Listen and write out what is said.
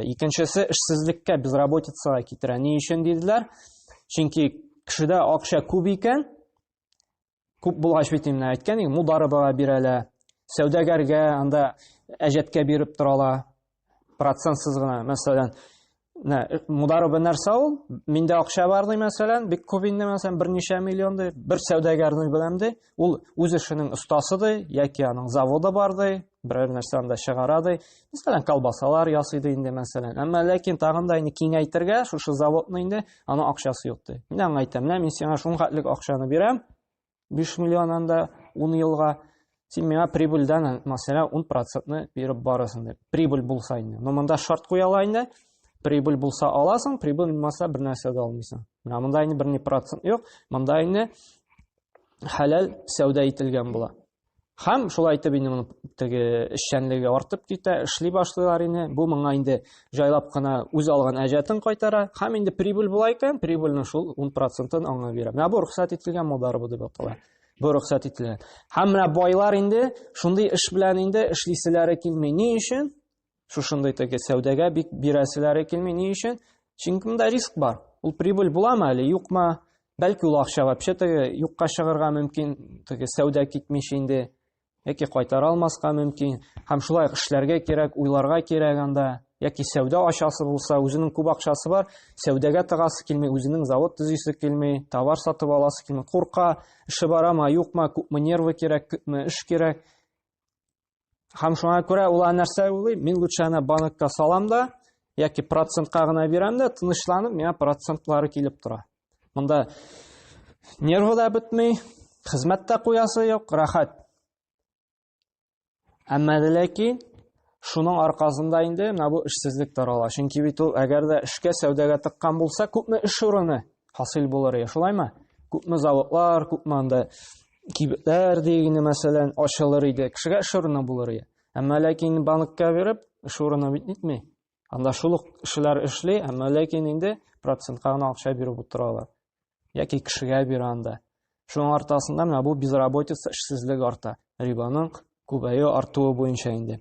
Икенчесе эшсезлеккә, безработицага китерә. Ни өчен диделәр? Чөнки кешедә акча күп икән, күп булгач бит инде әйткән идек, мударыбага бирәләр, сәүдәгәргә анда әҗәткә биреп торалар, процентсыз гына, мәсәлән, Нә, мударыбы нәрсә ул? Миндә акча бар ди, мәсәлән, бик күп инде, мәсәлән, берничә миллион ди, бер сәүдәгәрне беләм ди, ул үз эшенең остасы ди яки аның заводы бар ди берәр нәрсә анда чыгара ди мәсәлән колбасалар ясый ди инде мәсәлән әмма ләкин тагын да инде киңәйтергә шушы заводны инде аның акчасы юк ди мин аңа әйтәм менә мин сиңа шунхатлек акчаны бирәм биш миллион анда ун елга син миңа прибыльдән мәсәлән ун процентны биреп барасың дип прибыль булса инде но монда шарт куялар инде прибыль булса аласың прибыль булмаса бер нәрсә дә алмыйсың менә монда инде бер ни процент юк монда инде хәләл сәүдә ителгән була. Хәм шулай итеп инде моның теге эшчәнлеге артып китә, эшли башлыйлар инде. Бу моңа инде җайлап кына үз алган әҗәтен кайтара. Хәм инде прибыль була икән, прибыльне шул 10%-ын аңа бирә. Менә бу рөхсәт ителгән модарыбы дип атала. Бу рөхсәт ителгән. Хәм менә байлар инде шундый эш белән инде эшлиселәре килми. Ни өчен? Шушындый теге сәүдәгә бик бирәселәре килми. Ни өчен? Чөнки монда риск бар. Ул прибыль буламы әле, юкмы? Бәлки ул акча вообще теге юкка чыгарга мөмкин, теге сәүдә китмичә инде яки кайтара алмаска мөмкин. Һәм шулай эшләргә кирәк, уйларга кирәк анда. Яки сәүдә ачасы булса, үзенең күп акчасы бар, сәүдәгә тыгасы килми, үзенең завод төзисе килми, товар сатып аласы килми, курка, эше барамы, юкмы, күпме нервы кирәк, күпме эш кирәк. Һәм шуңа күрә ул нәрсә уйлый, мин лучше ана банкка салам да, яки процентка гына бирәм дә, тынычланып, миңа процентлары килеп тора. Монда нервы да бетмей, хезмәт тә куясы юк, рәхәт. Әмма ләкин шуның аркасында инде менә бу эшсезлек тарала. Чөнки бит ул әгәр дә эшкә сәүдәгә тыккан булса, күпме эш урыны хасил булыр ия, шулаймы? Күпме заводлар, күпме анда кибетләр дигене мәсәлән ачылыр иде кешегә эш урыны булыр иде әмма ләкин банкка биреп эш урыны бит нитми анда шул ук кешеләр эшли әмма ләкин инде процентка гына акча биреп утыралар яки кешегә бирә анда шуның аркасында менә бу безработица эшсезлек арта рибаның күбәю артуы буенча инде